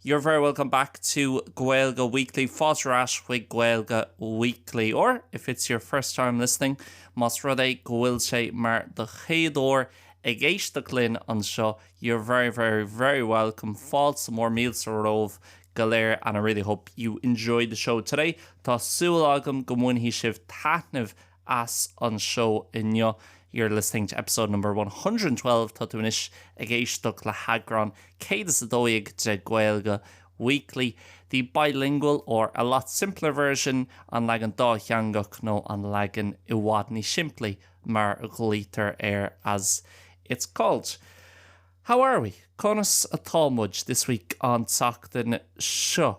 You're very welcome back to Gaeilge Weekly. Fáilte ar ais chuig Gaeilge Weekly. Or, if it's your first time listening, más rud é go bhfuil sé mar do chéad uair ag éisteacht linn anseo, you're very, very, very welcome. Fáilte mór, míle romhaibh go léir and I really hope you enjoy the show today. Tá súil agam go mbainfidh sibh taitneamh as an seó inniu. You're listening to episode number one hundred and twelve Tá tú anois ag éisteacht le heagrán céad is a dó dhéag de Gaeilge Weekly, the bilingual, or a lot simpler version an leagan dátheangach nó an leagan i bhfad níos simplí mar a ghlaoitear air as it's called. How are we? Conas atá muid? This week An tseachtain seo.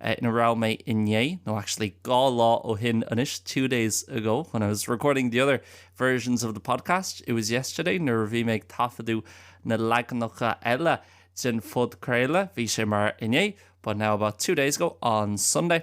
ina raibh mé inné, nó actually dhá lá ó shin anois, two days ago, when I was recording the other versions of the podcast, it was yesterday, nuair a bhí mé ag taifeadadh na leaganacha eile den phodchraoladh, bhí sé mar inné, but now about two days ago, on Sunday.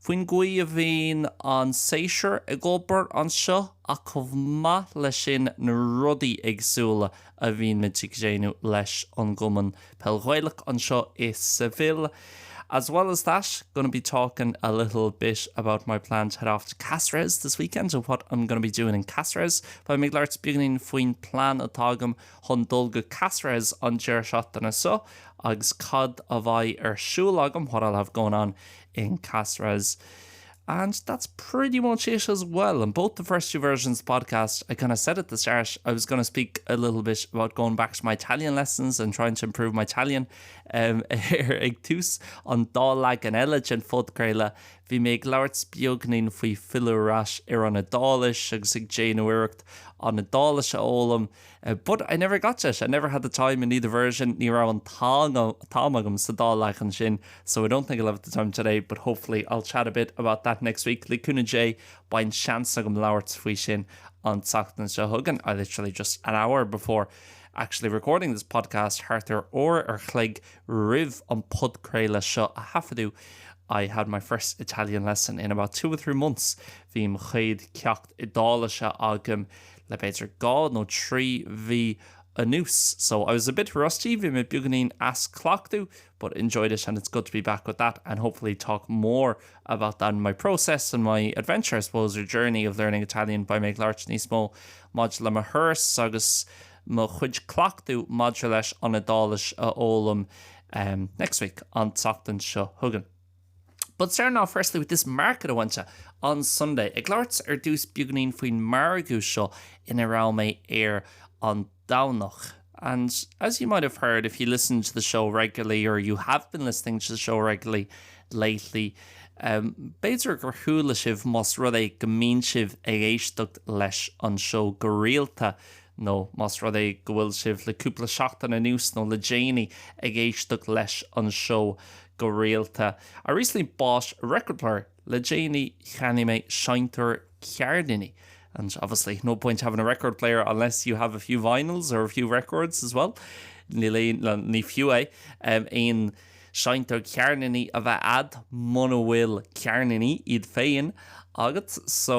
faoin gcaoi a bhíonn an séasúr ag obair anseo ach chomh maith leis sin na rudaí éagsúla a bhíonn muid ag déanamh leis an gCumann Peil Ghaelach anseo i Seville. As well as that, gonna be talking a little bit about my plan to head off to Caceres this weekend and what I'm gonna be doing in Caceres. Beidh mé ag labhairt beagáinín faoin plean atá agam chun dul go Caceres an deireadh seachtaine seo agus cad a bheidh ar siúl agam, what I'll have going on in Caceres and that's pretty much it as well in both the first two versions of the podcast I kind of said at the start I was going to speak a little bit about going back to my Italian lessons and trying to improve my Italian um, ar ag tús an dá leagan eile den phodchraoladh bhí mé ag labhairt beagáinín faoi filleadh ar ais ar an Iodáilis agus ag déanamh iarracht an Iodáilis a fhoghlaim But I never got it, I never had the time in neither version, ní raibh an t-am agam sa dá leagan sin so I don't think I'll have the time today but hopefully I'll chat a bit about that next week, le cúnamh Dé beidh seans agam labhairt faoi sin an tseachtain seo chugainn I literally just an hour before actually recording this podcast, thart ar uair an chloig roimh an podchraoladh seo a thaifeadadh I had my first Italian lesson in about two or three months, bhí mo chéad ceacht Iodáilise agam le b'fhéidir dhá nó trí mhí anuas. So, I was a bit rusty, bhí mé beagáinín as cleachtadh but enjoyed it and it's good to be back with that and hopefully talk more about that and my process and my adventure, I suppose, or journey of learning Italian beidh mé ag labhairt níos mó maidir le mo thuras agus mo chuid cleachtadh maidir leis an Iodáilis a fhoghlaim next week, an tseachtain seo chugainn. But starting off firstly with this market I went to on Sunday ag labhairt ar dtús beagainín faoin margadh seo ina raibh mé air an Domhnach and as you might have heard if you listen to the show regularly or you have been listening to the show regularly lately um b'fhéidir gur chuala sibh más rud é go mbíonn sibh ag éisteacht leis an seó go rialta nó más rud é go bhfuil sibh le cúpla seachtain anuas nó le déanaí ag éisteacht leis an seó go rialta. I recently bought a record player, le déanaí cheannaigh mé seinnteoir ceirníní and obviously no point having a record player unless you have a few vinyls or a few records as well níl aon, nó ní fiú é, aon seinnteoir ceirníní a bheith a'd muna bhfuil ceirníní iad féin agat so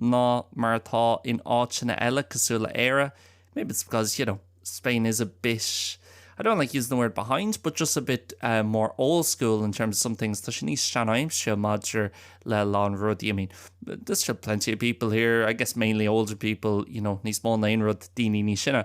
ná mar atá in áiteanna eile cosúil le Éire, maybe it's because, you know, Spain is a bit, I don't like using the word behind, but just a bit more old school in terms of some things, tá sé níos seanaimseartha maidir le a lán rudaí, I mean, there's still plenty of people here, I guess mainly older people, you know, níos mó ná aon rud, daoine níos sine.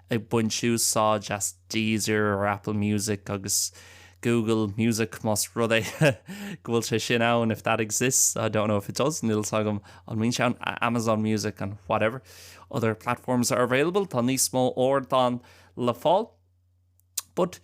ag baint úsáid as Deezer or Apple Music agus Google Music más rud é go bhfuil sé sin ann, if that exists, I don't know if it does, níl 's agam an mbíonn sé ann, Amazon Music and whatever other platforms are available, tá níos mó ardán le fáil. But.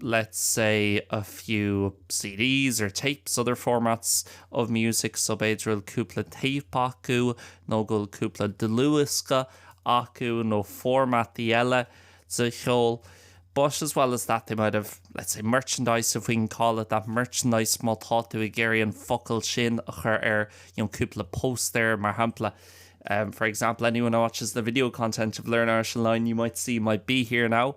let's say a few CDs or tapes, other formats of music so b'fhéidir bhfuil cúpla téip acu nó go bhfuil cúpla dlúthdhiosca acu nó formataí eile de cheol but as well as that they might have, let's say, merchandise if we can call it that, merchandise má tá tú ag iarraidh an focal sin a chur air you know, cúpla póstaer mar shampla Um, for example, anyone who watches the video content of Learn Irish Online, you might see my Be Here Now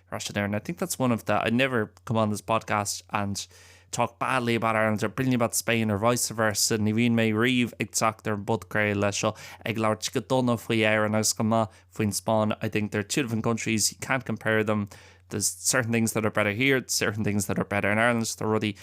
rás an air and I think that's one of the, I never come on this podcast and talk badly about Ireland or brilliantly about Spain or vice versa, ní bhíonn mé riamh ag teacht ar an bpodchraoladh seo ag labhairt go dona faoi Éirinn agus go maith faoin Spáinn, I think they're two different countries, you can't compare them, there's certain things that are better here, certain things that are better in Ireland, tá rudaí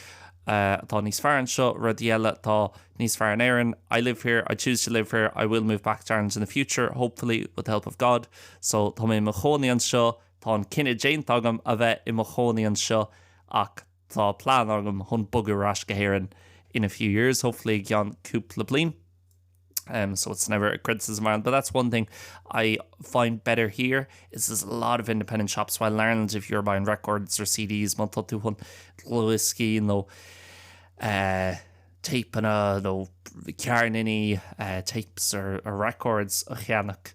atá níos fearr anseo, rudaí eile atá níos fearr in Éirinn, I live here, I choose to live here, I will move back to Ireland in the future, hopefully, with the help of God, so tá mé i mo chónaí anseo, Tá an cinneadh déanta agam a bheith i mo chónaí anseo ach tá plean agam chun bogadh ar ais go hÉirinn in a few years, hopefully i gceann cúpla bliain em so it's never a criticism of Ireland but that's one thing I find better here is there's a lot of independent shops while in Ireland if you're buying records or CDs má tá tú chun dlúthdhioscaí nó eh téipeanna nó ceirníní eh tapes or records a cheannach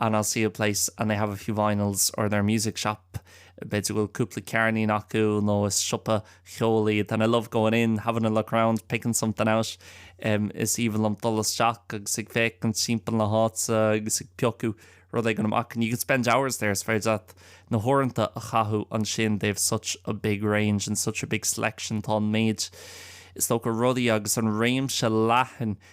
and I'll see a place and they have a few vinyls or they're a music shop b'fhéidir go bhfuil cúpla ceirnín acu nó is siopa ceoil iad and I love going in, having a look around, picking something out um is aoibhinn liom dul isteach agus ag féachaint timpeall na háite agus ag piocadh rud éigin amach and you could spend hours there is féidir leat na huaireanta a chaitheamh ansin they have such a big range and such a big selection tá an méid is dócha rudaí agus an réimse leathan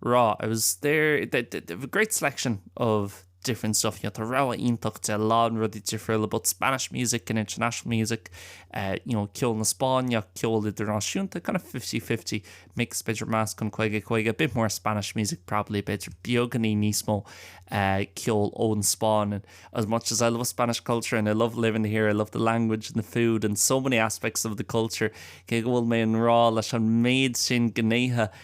raw, it was there, they have a great selection of different stuff, you know, tá rogha iontach de a lán rudaí difriúla, both Spanish music and international music, eh, you know, ceol na Spáinne, ceol idirnáisiúnta, kind of fifty fifty mix, b'fhéidir meascán caoga caoga, a bit more Spanish music probably, b'fhéidir beagáinín níos mó eh, ceol ón Spáinn, and as much as I love Spanish culture and I love living here, I love the language and the food and so many aspects of the culture, cé go bhfuil mé i ngrá leis an méid sin gnéithe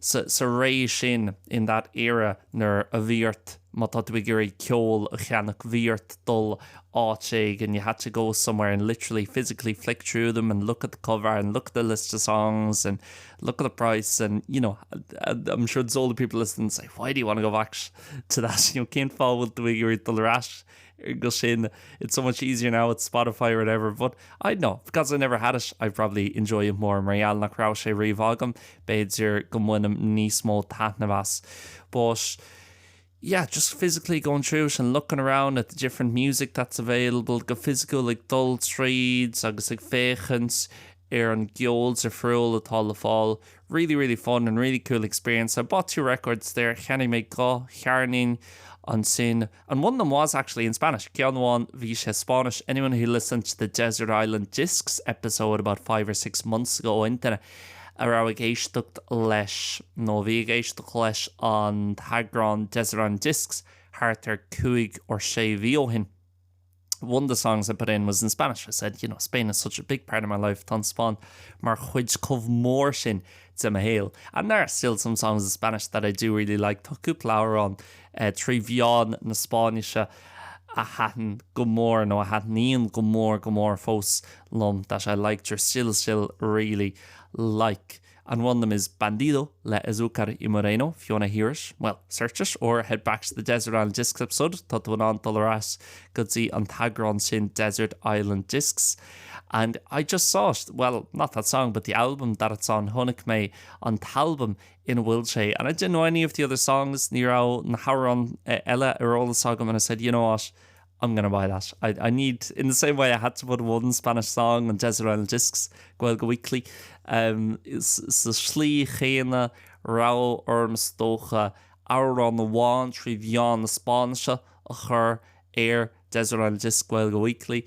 sa, sa ré sin, in that era, nuair a bhí ort, má tá tú ag iarraidh ceol a cheannach, bhí ort dul áit éigin, you had to go somewhere and literally, physically flick through them and look at the cover and look at the list of songs and look at the price and, you know, I'm sure there's older people listening and say, why do you want to go back to that, you know, cén fáth a bhfuil tú ag iarraidh dul ar ais go sin it's so much easier now with Spotify or whatever but I don't know because I never had it I probably enjoy it more mar gheall nach raibh sé riamh agam b'fhéidir go mbainim níos mó taitneamh as but yeah just physically going through it and looking around at the different music that's available go fisiciúil ag dul tríd agus ag féachaint ar an gceol difriúil atá le fáil really really fun and really cool experience I bought two records there cheannaigh mé dhá cheirnín ansin And one of them was actually in Spanish. Ceann amháin bhí sé Spáinnis. Anyone who listened to the Desert Island Discs episode about five or six months ago, aon duine a raibh ag éisteacht leis nó a bhí ag éisteacht leis an t-eagrán Desert Island Discs thart ar cúig or sé mhí ó shin, One of the songs I put in was in Spanish. I said, you know, Spain is such a big part of my life. Tá an Spáinn mar chuid chomh mór sin de mo shaol. And there are still some songs in Spanish that I do really like. Tá cúpla amhrán eh, trí mheán na Spáinnise a thaitin go mór nó a thaitníonn go mór, go mór fós liom that I liked or still, still really like. And one of them is Bandido le Azúcar Moreno, if you wanna hear it, well, search it, or head back to the Desert Island Discs episode, tá tú in ann dul ar ais go dtí an t-eagrán sin Desert Island Discs. And I just saw it, well, not that song, but the album that it's on, chonaic mé an t-albam ina bhfuil sé. And I didn't know any of the other songs, ní raibh na hamhráin eh, eile ar eolas agam, and I said, you know what, I'm gonna buy that. I I need, in the same way I had to put one Spanish song on Desert Island Discs, Gaeilge Weekly, um, sa slí chéanna a raibh orm is dócha amhrán amháin trí mheán na Spáinnise a chur ar Desert Island Discs, Gaeilge Weekly.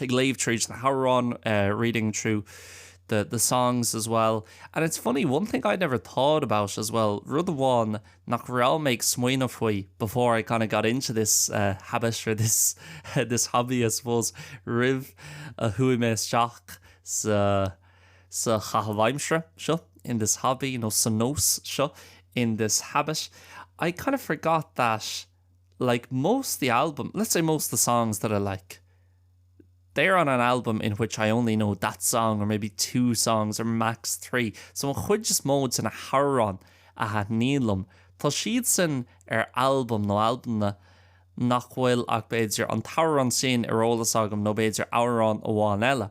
ag léamh tríd na hamhráin, uh, reading through the, the songs as well. And it's funny, one thing I'd never thought about as well, rud amháin nach raibh mé ag smaoineamh faoi before I kind of got into this uh, habit or this, this hobby I suppose, roimh a chuaigh mé isteach sa, sa chaitheamh aimsire seo, in this hobby nó sa nós seo, in this habit, I kind of forgot that, like most the album, let's say most the songs that I like, they're on an album in which I only know that song or maybe two songs or max three. So an chuid is mó de na hamhráin a thaitníonn liom, tá siadsan ar albam nó albamanna nach bhfuil ach b'fhéidir an t-amhrán sin ar eolas agam nó b'fhéidir amhrán amháin eile.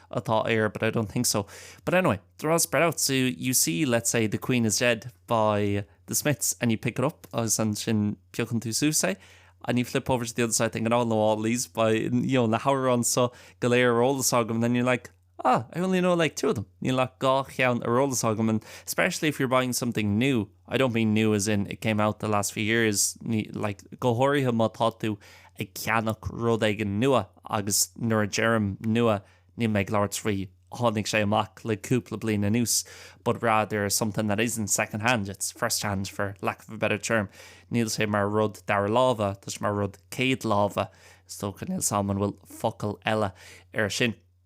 atá air but I don't think so. But anyway, the rod spread out so you see let's say the queen is dead by the Smiths and you pick it up agus ansin piocann tú suas é and you flip over to the other side thinking oh no all these by you know na hamhráin so go léir ar eolas agam and then you're like ah I only know like two of them níl ach dhá cheann ar eolas agam and especially if you're buying something new I don't mean new as in it came out the last few years, like, go háirithe má tá tú ag ceannach rud éigin nua agus nuair a deirim nua níl mé ag labhairt faoi tháinig sé amach le cúpla bliain anuas but rather something that isn't second-hand, it's first-hand for lack of a better term. Níl sé mar rud dara láimhe, tá sé mar rud céad láimhe. Is dócha, níl a fhios agam an bhfuil focal eile air sin.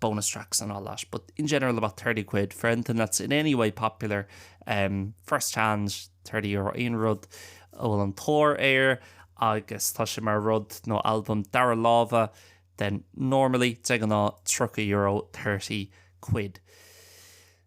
bonus tracks and all that, but in general about 30 quid for anything that's in any way popular, um, first hand 30 euro aon rud a bhfuil an-tóir air agus tá sé mar rud nó albam dara láimhe then normally de ghnáth 30 euro 30 quid.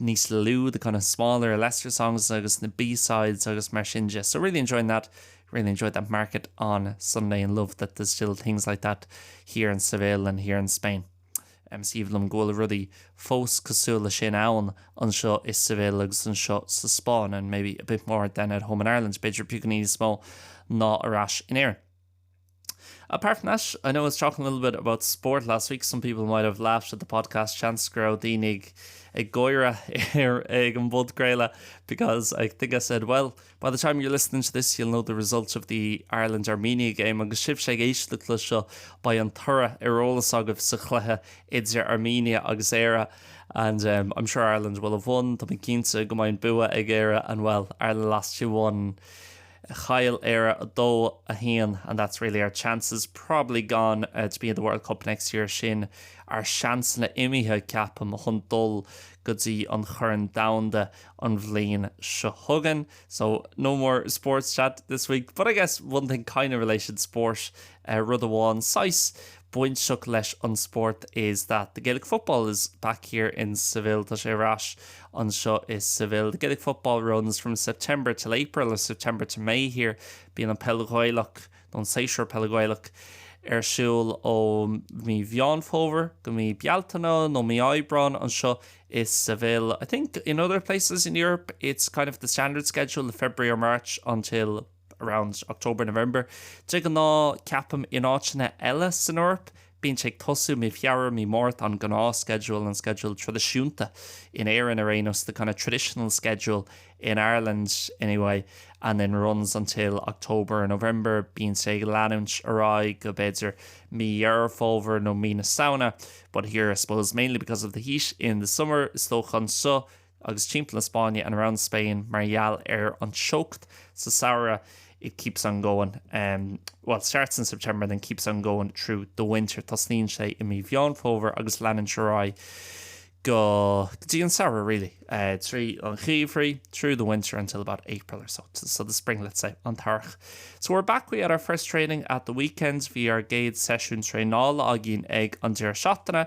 níos lú the kind of smaller or lesser songs agus na B-sides agus mar sin de. So really enjoying that, really enjoyed that market on Sunday and love that there's still things like that here in Seville and here in Spain. Um, is aoibhinn liom go bhfuil rudaí fós cosúil le sin ann anseo i Seville agus anseo sa Spáinn and maybe a bit more than at home in Ireland, b'fhéidir beagán níos mó ná ar ais in Éirinn. Apart from that, I know I was talking a little bit about sport last week, some people might have laughed at the podcast, seans go raibh daoine ag, ag gáire ar, ag an bpodchraoladh because I think I said, well, by the time you're listening to this, you'll know the result of the Ireland-Armenia game agus sibhse ag éisteacht leis seo, beidh an toradh ar eolas agaibh sa chluiche idir Armenia agus Éire and um, I'm sure Ireland will have won, tá mé cinnte go mbeidh an bua ag Éire and, well, Ireland lost two one. Chaill Éire 2, 1 and that's really our chances probably gone to be in the World Cup next year, sin ár seansanna imithe, ceapaim, chun dul go dtí an Chorn Domhanda an bhliain seo chugainn. So, no more sports chat this week, but I guess one thing kind of related sport, rud amháin saghas bainteach leis an spórt is that the Gaelic Football is back here in Seville tá sé ar ais anseo i Seville the Gaelic Football runs from September till April or September to May here bíonn an peil Ghaelach nó an séasúr peile Gaelach ar siúl ó mhí Mheán Fómhair go mí Bealtaine nó mí Aibreáin anseo i Seville I think in other places in Europe it's kind of the standard schedule of February or March until around October, November. De ghnáth, ceapaim, in áiteanna eile san Eoraip, bíonn sé ag tosú i mí Feabhra, mí Márta, an gnáth schedule, an sceideal traidisiúnta, in Éirinn ar aon nós, the kind of traditional schedule in Ireland anyway, and then runs until October or November, bíonn sé ag leanúint ar aghaidh go, b'fhéidir, mí Dheireadh Fómhair nó mí na Samhna, but here I suppose, mainly because of the heat in the summer, is dócha anseo, Agus timpeall an Spáinn, and around Spain, mar gheall ar an teocht sa samhradh it keeps on going, well, it starts in September then keeps on going through the winter, tosnaíonn sé i mí Mheán Fómhair agus leanann sé ar aghaidh go, go dtí an samhradh really, eh, tríd an gheimhreadh through the winter until about April or so, so the spring let's say, an t-earrach. So we're back, we had our first training at the weekend, bhí ár gcéad seisiún traenála againn ag an deireadh seachtaine,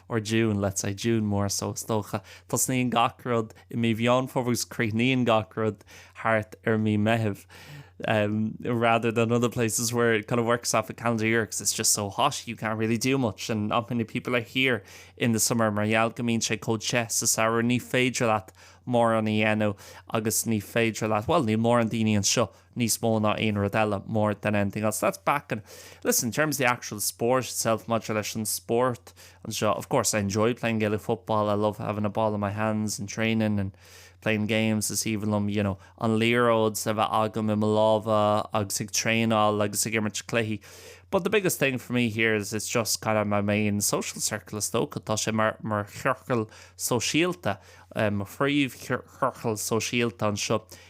or June, let's say June more so is dócha. Tosnaíonn gach rud i mí Mheán Fómhair agus críochnaíonn gach rud thart ar mí Meitheamh rather than other places where it kind of works off a calendar year because it's just so hot you can't really do much and not many people are here in the summer mar gheall go mbíonn sé chomh te sa samhradh ní féidir leat mórán a dhéanamh agus ní féidir leat bhuel níl mórán daoine anseo níos mó ná aon rud eile more than anything else that's back and listen in terms of the actual sport itself maidir leis an spórt anseo, of course I enjoy playing Gaelic football I love having a ball in my hands and training and playing games is aoibhinn liom you know an liathróid a bheith agam i mo lámha agus ag traenáil agus ag imirt cluichí but the biggest thing for me here is it's just kind of my main social circle is dócha tá sé mar mar chiorcal sóisialta um, mo phríomhchiorcal sóisialta anseo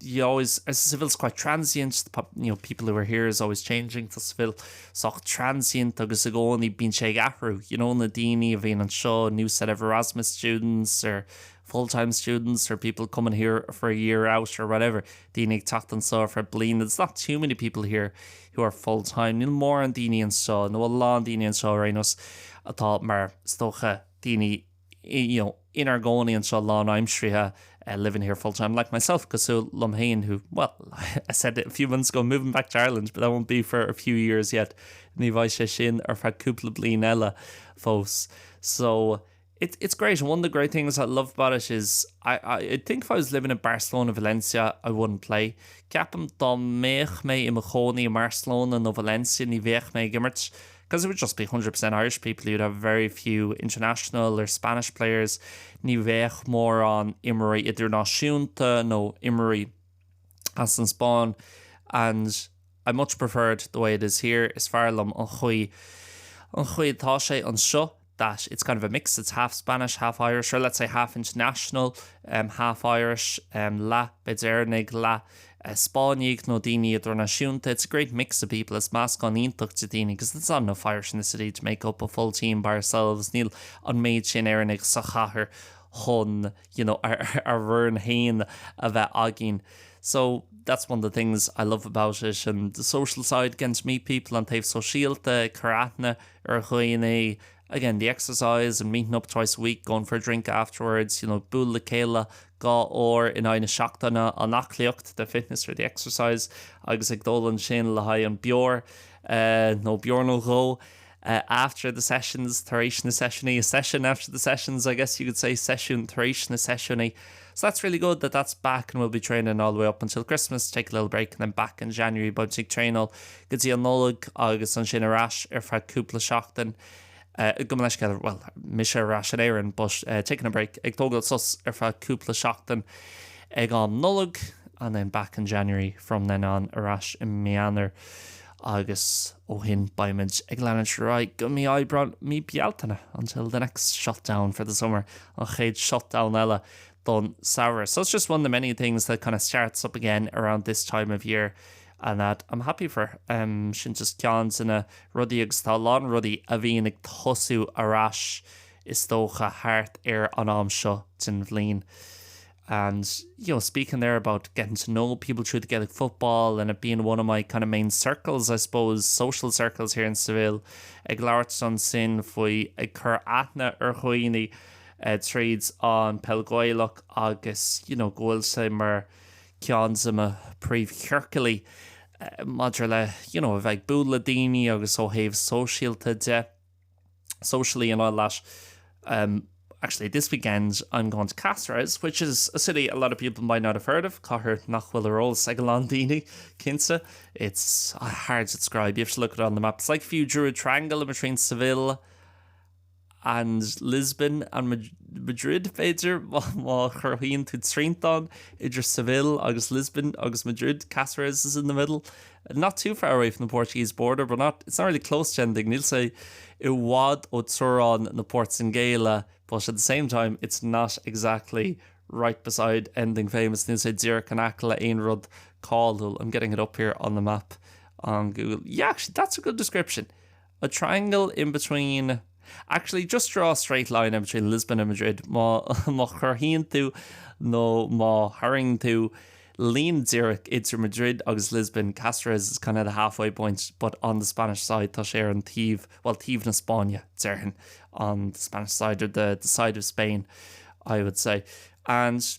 you know, is, as Seville is quite transient, the pop, you know, people who are here is always changing, tá Seville sách transient agus i gcónaí bíonn sé ag athrú, you know, na daoine a bhíonn anseo, a new set of Erasmus students or full-time students or people coming here for a year out or whatever, daoine ag teacht anseo ar feadh bliana, there's not too many people here who are full-time, níl mórán daoine anseo nó a lán daoine anseo ar aon nós atá mar, is dócha, daoine you know, inár gcónaí anseo lánaimseartha, living here full time, like myself, cosúil liom féin who, well, I said it a few months ago, moving back to Ireland, but that won't be for a few years yet, ní bheidh sé sin ar feadh cúpla bliain eile fós. So, it, it's great, and one of the great things I love about it is, I, I, I think if I was living in Barcelona, Valencia, I wouldn't play. Ceapaim dá mbeadh mé i mo chónaí i Barcelona nó Valencia, ní bheadh mé ag imirt. Because it would just be hundred percent Irish people, you'd have very few international or Spanish players, ní bheadh mórán imreoirí idirnáisiúnta nó imreoirí as an Spáinn and I much preferred the way it is here, is fearr liom an chaoi an chaoi atá sé anseo. that it's kind of a mix, it's half Spanish, half Irish, or let's say half international, um, half Irish, um, leath beid Éireannaigh, leath uh, Spáinnigh nó daoine idirnáisiúnta, it's a great mix of people, is meascán iontach de daoine because there's not enough Irish in the city to make up a full team by ourselves, níl an méid sin Éireannaigh sa chathair chun, you know, ár, ár bhfoireann féin a bheith againn. So that's one of the things I love about it and the social side, getting to meet people, an taobh sóisialta, cur aithne, ar dhaoine again the exercise and meeting up twice a week, going for a drink afterwards, you know bualadh le chéile dhá uair in aghaidh na seachtaine an aclaíocht the fitness or the exercise agus ag dul ansin le haghaidh beoir nó beoir nó dhó after the sessions tar éis na seisiúnaí a session after the sessions I guess you could say seisiún tar éis na seisiúnaí so that's really good that that's back and we'll be training all the way up until Christmas take a little break and then back in January beidh muid ag traenáil go dtí an Nollaig agus ansin ar ais ar feadh cúpla seachtain gabh mo leithscéal, bhuel mise ar ais in Éirinn but taking a break, ag tógáil sos ar feadh cúpla seachtain ag am Nollag and then back in January from then on ar ais i mí Eanáir agus ó shin beimid ag leanúint ar aghaidh go mí Aibreán, mí Bealtaine until the next shutdown for the summer, an chéad shutdown eile don samhradh. So it's just one of the many things that kind of starts up again around this time of year. and that I'm happy for. Sin just ceann de na rudaí agus tá a lán rudaí a bhíonn ag tosú ar ais is dócha thart ar an am seo den bhliain. And you know speaking there about getting to know people through the Gaelic football and it being one of my kind of main circles I suppose, social circles here in Seville, ag labhairt ansin faoi ag cur aithne ar dhaoine uh, tríd an Peil Gaelach agus you know, go bhfuil sé mar ceann de mo príomhchiorcail maidir le you know a bheith ag bualadh le daoine agus ó thaobh sóisialta de socially and all that um actually this weekend I'm going to Cáceres which is a city a lot of people might not have heard of cathair nach bhfuil ar eolas ag a lán daoine cinnte it's hard to describe you have to look it on the map it's like if you drew a triangle in between Seville and Lisbon and Madrid b'fhéidir, má chruthaíonn tú triantán idir Seville agus Lisbon agus Madrid, Cáceres is in the middle, not too far away from the Portuguese border but not, it's not really close to anything, níl sé i bhfad ó teorainn na Portaingéile but at the same time it's not exactly right beside anything famous, níl sé díreach in aice le haon rud cáiliúil, I'm getting it up here on the map on Google, yeah actually that's a good description a triangle in between actually just draw a straight line in between Lisbon and Madrid má má chruthaíonn tú nó má tharraing tú líne díreach idir Madrid agus Lisbon Cáceres is kind of the halfway point but on the Spanish side tá sé ar an taobh bhuel taobh na Spáinne déarfainn on the Spanish side or the, the side of Spain I would say and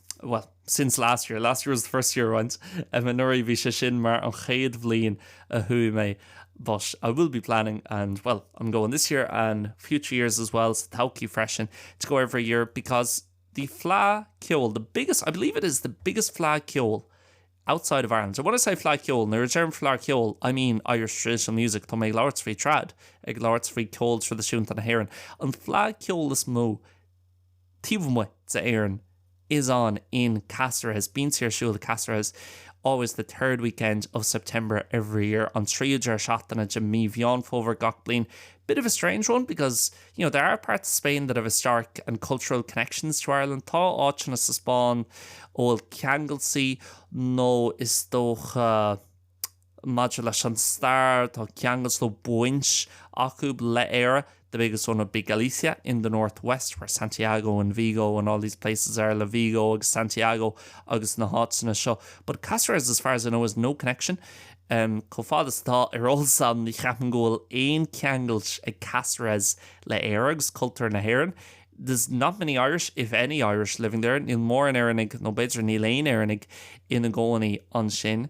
well, since last year, last year was the first year I went, um, anuraidh bhí sé sin mar an chéad bhliain a chuaigh mé, but I will be planning and, well, I'm going this year and future years as well, sa todhchaí freisin, to go every year because the fleadh ceoil, the biggest, I believe it is the biggest fleadh ceoil outside of Ireland. And when I say fleadh ceoil, nuair a deirim fleadh ceoil, I mean Irish traditional music, tá mé ag labhairt faoi trad, ag labhairt faoi ceol traidisiúnta na hÉireann, an fleadh ceoil is mó, taobh amuigh d'Éirinn is on in Cáceres, bíonn sé ar siúl i Cáceres always the third weekend of September every year an tríú deireadh seachtaine de mhí Mheán Fómhair gach bliain bit of a strange one because, you know, there are parts of Spain that have historic and cultural connections to Ireland tá áiteanna sa Spáinn a bhfuil ceangailtí nó is dócha Maidir leis an stair, tá ceangailt nó baint acu le Éire, the biggest one would be Galicia in the northwest where Santiago and Vigo and all these places are, Vigo agus Santiago agus na háiteanna seo, but Caceres as far as I know has no connection. Chomh fada is atá ar eolas agam ní cheapaim go bhfuil aon ceangailt ag Caceres le Éire agus cultúr na hÉireann, there's not many Irish, if any Irish living there, níl móran Éireannaigh nó b'fhéidir níl aon Éireannaigh ina gcónaí ansin.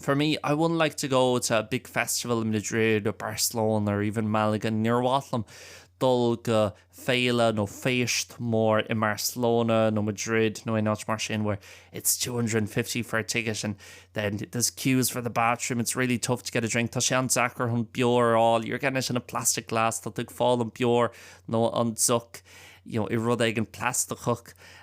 For me, I wouldn't like to go to a big festival in Madrid or Barcelona or even Malaga, níor mhaith liom dul go féile nó féist mór in Barcelona nó Madrid nó aon áit mar sin where it's two hundred and fifty for a ticket and then there's queues for the bathroom, it's really tough to get a drink, tá sé an-deacair chun beoir a fháil, you're getting it in a plastic glass, tá tú ag fáil an beoir nó an deoch you know, i rud éigin plastacach.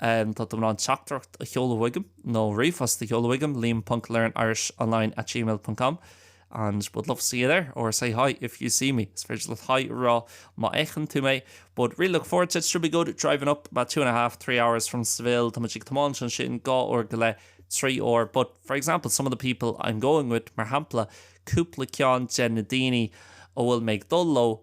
Tá tú in ann teachtaireacht a sheoladh chugaim nó ríomhphost a sheoladh chugaim, liam ponc learnirishonline at gmail dot com and would love to see you there or say hi if you see me. Is féidir leat haigh a rá má fheiceann tú mé but really looking forward to it, should be good, driving up about two and a half, three hours from Seville, tá muid ag tiomáint ansin dhá uair go leith, trí uair but for example, some of the people I'm going with, mar shampla, cúpla ceann de na daoine a bhfuil mé ag dul leo,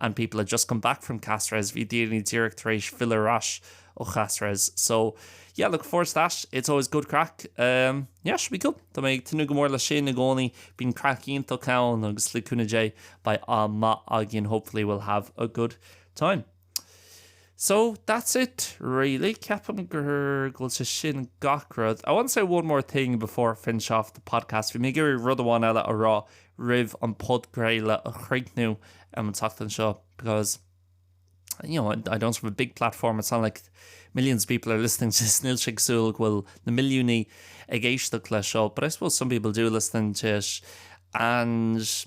and people had just come back from Cáceres, bhí daoine díreach tar éis filleadh ar ais ó Cháceres. So yeah, looking forward to that, it's always good craic. Um, yeah, should be good. Tá mé ag tnúth go mór le sin i gcónaí, bíonn craic iontach ann agus le cúnamh Dé beidh am maith againn, hopefully we'll have a good time. So, that's it really, ceapaim gur, go bhfuil sé sin gach rud. I want to say one more thing before I finish off the podcast, bhí mé ag iarraidh rud amháin eile a rá roimh an podchraoladh a chríochnú um an tseachtain seo because you know, I don't have a big platform, it's not like millions of people are listening to this, níl sé cosúil go bhfuil na milliúnaí ag éisteacht leis seo, but I suppose some people do listen to it and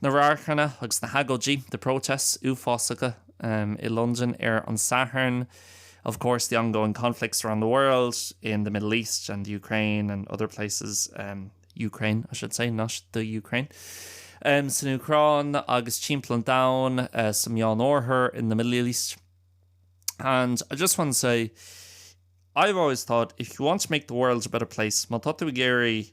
Na radharcanna agus na hagóidí, the protests, uafásacha i Londain ar an Satharn, of course, the ongoing conflicts around the world, in the Middle East and Ukraine and other places, Ukraine, I should say, not the Ukraine, san Úcráin agus timpeall an domhain, sa Mheánoirthear, in the Middle East. And I just want to say, I've always thought, if you want to make the world a better place, má tá tú ag iarraidh,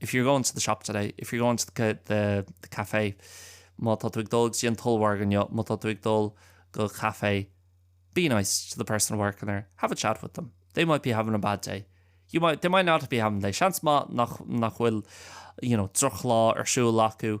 If you're going to the shop today, if you're going to the the the café, má tá tú ag dul go dtí an t-ollmhargadh inniu, má tá tú ag dul go caife, be nice to the person working there, have a chat with them, they might be having a bad day, you might, they might not be having a day, seans maith nach nach bhfuil, you know, drochlá ar siúl acu,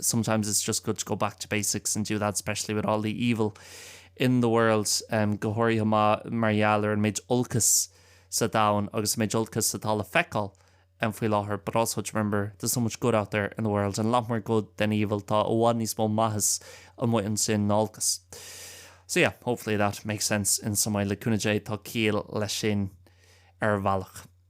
sometimes it's just good to go back to basics and do that especially with all the evil in the world go háirithe mar gheall ar an méid olcas sa domhan agus an méid olcas atá le feiceáil faoi láthair but also to remember there's so much good out there in the world and a lot more good than evil tá i bhfad níos mó maitheas amuigh ansin ná olcas so yeah hopefully that makes sense in some way le cúnamh Dé tá ciall leis sin ar bhealach.